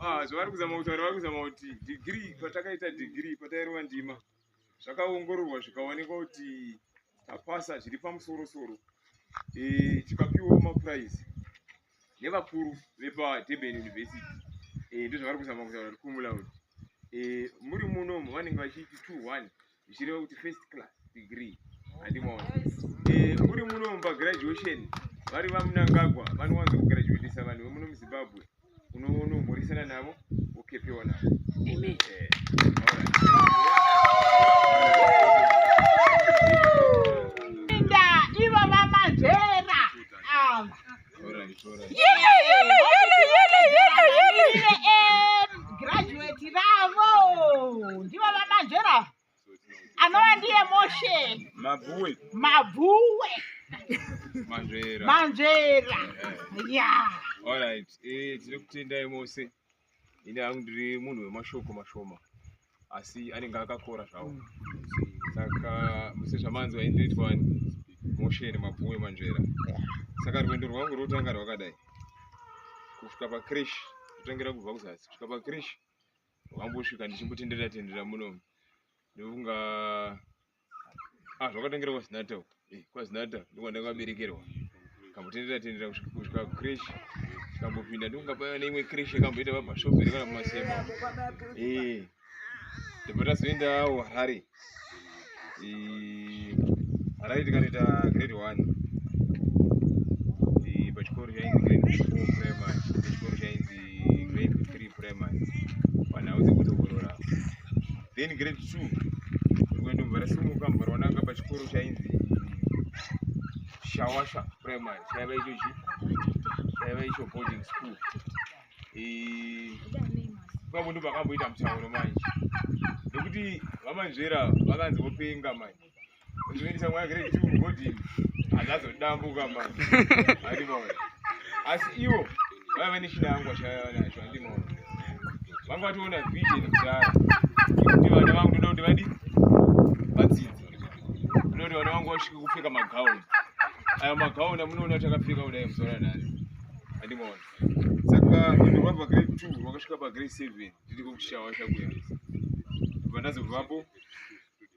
ah, zvavari kuzama kutaura vari kuzama kuti dhigiri patakaita dhigiri patairova ndima zvakaongororwa zvikaonekwa kuti tapasa zviri pamusorosoro eh, tikapiwawo mapuraizi nevakuru vepadurban university eh, ndozvavari kuzama kutaura kumulaud eh, muri munomu vanenge vachiti two one zvichireva kuti first class degree handimaona eh, muri muno pagraduation vari vamunangagwa vanowanza kugraduatisa vanhu vemuno muzimbabwe unonomhorisana navo wokepewa navo amen eh, graduate ravo ndivo vamanzvera anova ndiye moshe mabhuwe mabhuwe manzvera manzvera ya eh. eh. yeah. all right eh, tiri kutendai mose ini hangu ndiri munhu wemashoko mashoma asi anenge akakora zvawo mm. saka muse zvamanzi vaindoitwa mosheni mabvuwe manzvera saka rwendo rwangu rwotanga rwakadai kusvika pakrish kutangira kubva kuzasi kusvika pakrish rwambosvika ndichimbotenderera tenderera muno ndokunga ah zvakatengera kwazinata uko eh kwazinata ndiko ndakaberekerwa kambotendera tendera kusvika creche kambopinda ndikunga paya neimwe creche kamboita pabashoperi kana kumasemba eh ndipo tazoendawo harare eh, harare tikanoita grade one eh, pachikoro chainzi grade four primary pachikoro chainzi grade three primary panhau dzekutokorora then grade two rimwe ndobva rasimuka mbva raonanga pachikoro chainzi shawasha primary chaiva icho chi chaiva icho boarding school ipapo ndo pakamboita mutauro manje nekuti vamanzvera vakanzi vopenga manje Ndinoita mwana grade 2 mugodini. Azazodambuka mama. Andimona. Asi iwo vaiva vane shida yangu vashaya nacho andimona. Vanga vatoona vision kudhara. Kuti vana vangu ndoda kuti vadi vadzidze. Ndoda kuti vana vangu vasvike kupfeka magauni. Aya magauni amunoona kuti akapfeka kudai muzora nani. Andimona. Saka rwendo rwabva grade 2 rwakasvika pagrade 7 ndiri kukushawa shakuendesa. Kubva ndazovapo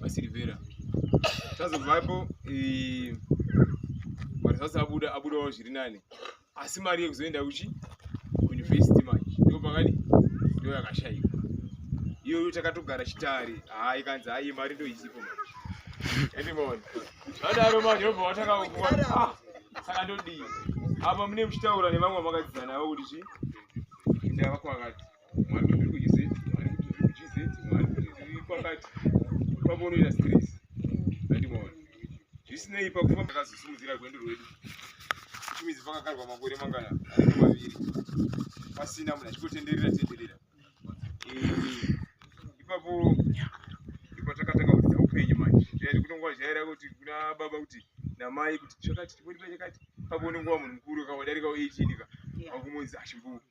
vasilivera tazobvapo eh, mari sasa abuda abudawo zviri nani asi mari yekuzoenda kuchi kuuniversity manje ndo pakadi ndo yakashaika iyoyo takatogara chitari haa ikanzi hayi mari ndo isipo manje andimaona adaro manje obva watakakuwa ah, saka ndodii apa mune muchitaura nevamwe makadzidzana avo kuti chi ndavakwakati zvisinei pakufamba takazosimudzira rwendo rwedu chimizi pakakarwa makore mangana anenge maviri pasina munhu achikotenderera tenderera ipapo ipatakatanga kudza upenyu manje zvaiti kunonga zvaira kuti kuna baba kuti namai kuti chakati chipoti pachakati papo unongowa munhu mukuru kawadarika 18 ka akumunzi achimbuka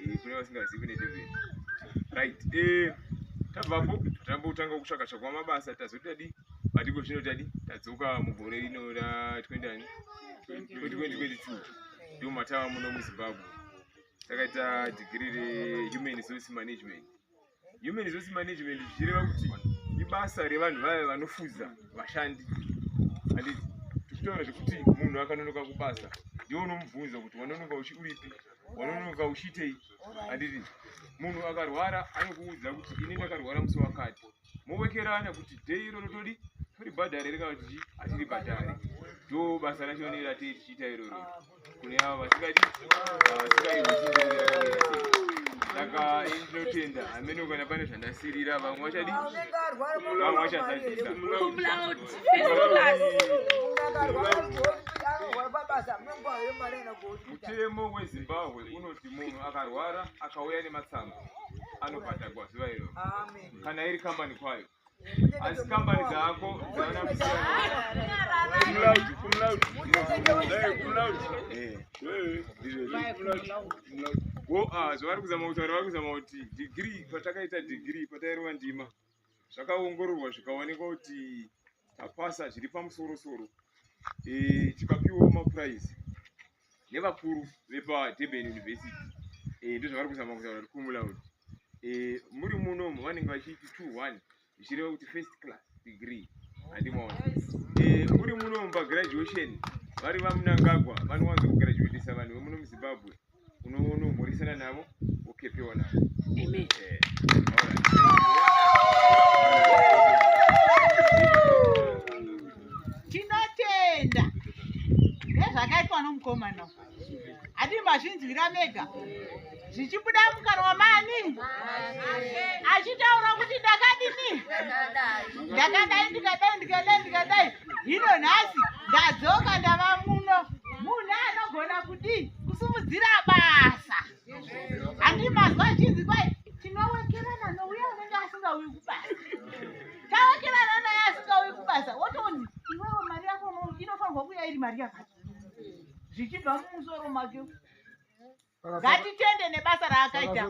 Eh, kune vasingazivi kune devil right eh tabvapo tambotanga kutsvaka tsvakwa mabasa tazotadi madiko zvino tadi tadzoka mugore rino ra 20 2022 ndomatava muno muzimbabwe takaita degree rehuman resource management Human resource management zvichireva kuti ibasa revanhu vaya vanofuza vashandi. Handiti tichitaura zvekuti munhu akanonoka kubasa ndiwo unomubvunza kuti wanonoka uchi uripi wanonoka uchiitei handiti munhu akarwara anokuudza kuti ini ndakarwara musi wakati mowekerana kuti dei iro rotodi toribhadhare rekana kuti hatiribhadhare ndo basa racho neratii tichiita iroro kune avo vasikadi vasikadi saka inotenda hamene ukana pane zvandasirira vamwe vachadi vamwe vachazadzisa mutemo wezimbabwe unoti munhu akarwara akauya nematsamba anobhadhagwa zuva iro kana iri kambani kwayo asi kambani dzako zvavari kuzama kutaura vari kuzama kuti dhigiri patakaita dhigiri patairova ndima zvakaongororwa zvikaonekwa kuti tapasa zviri pamusorosoro eh, tikapiwawo mapuraizi nevakuru vepadurban university eh, ndozvavari kuzama kutaura kuti kumulaud eh, muri munomu vanenge vachiiti two one zvichireva kuti first class degree handimaona eh, muri munomu pagraduation vari vamunangagwa vanowanza kugraduatisa vanhu vemuno muzimbabwe unomhorisana navo wokepewa navo tinotenda nezvakaitwa nomukomana hadi mazvinzwira mega zvichibuda mukanwa mani achitaura kuti ndakadini ndakadai ndikadai ndikadai ndikadai hino nhasi ndadzoka ndava muno munhu anogona kudii kusimudzira basa handimazwa chinzi kwai tinowekerana nouya unenge asingauyi kubasa Tawakirana naye asikauyi kubasa wotoni iwewe mari yako inofanirwa kuya iri mari yako zvichibva mumusoro make ngatitende nebasa raakaita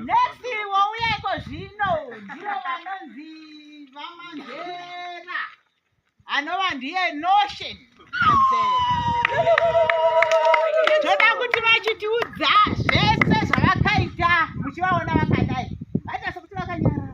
next wouya iko zvino ndivo vanonzi vamanzera anova ndiye notion toda kuti vachitiudza zvese zvavakaita muchivaona vakadai vaita sekuti vakanyarara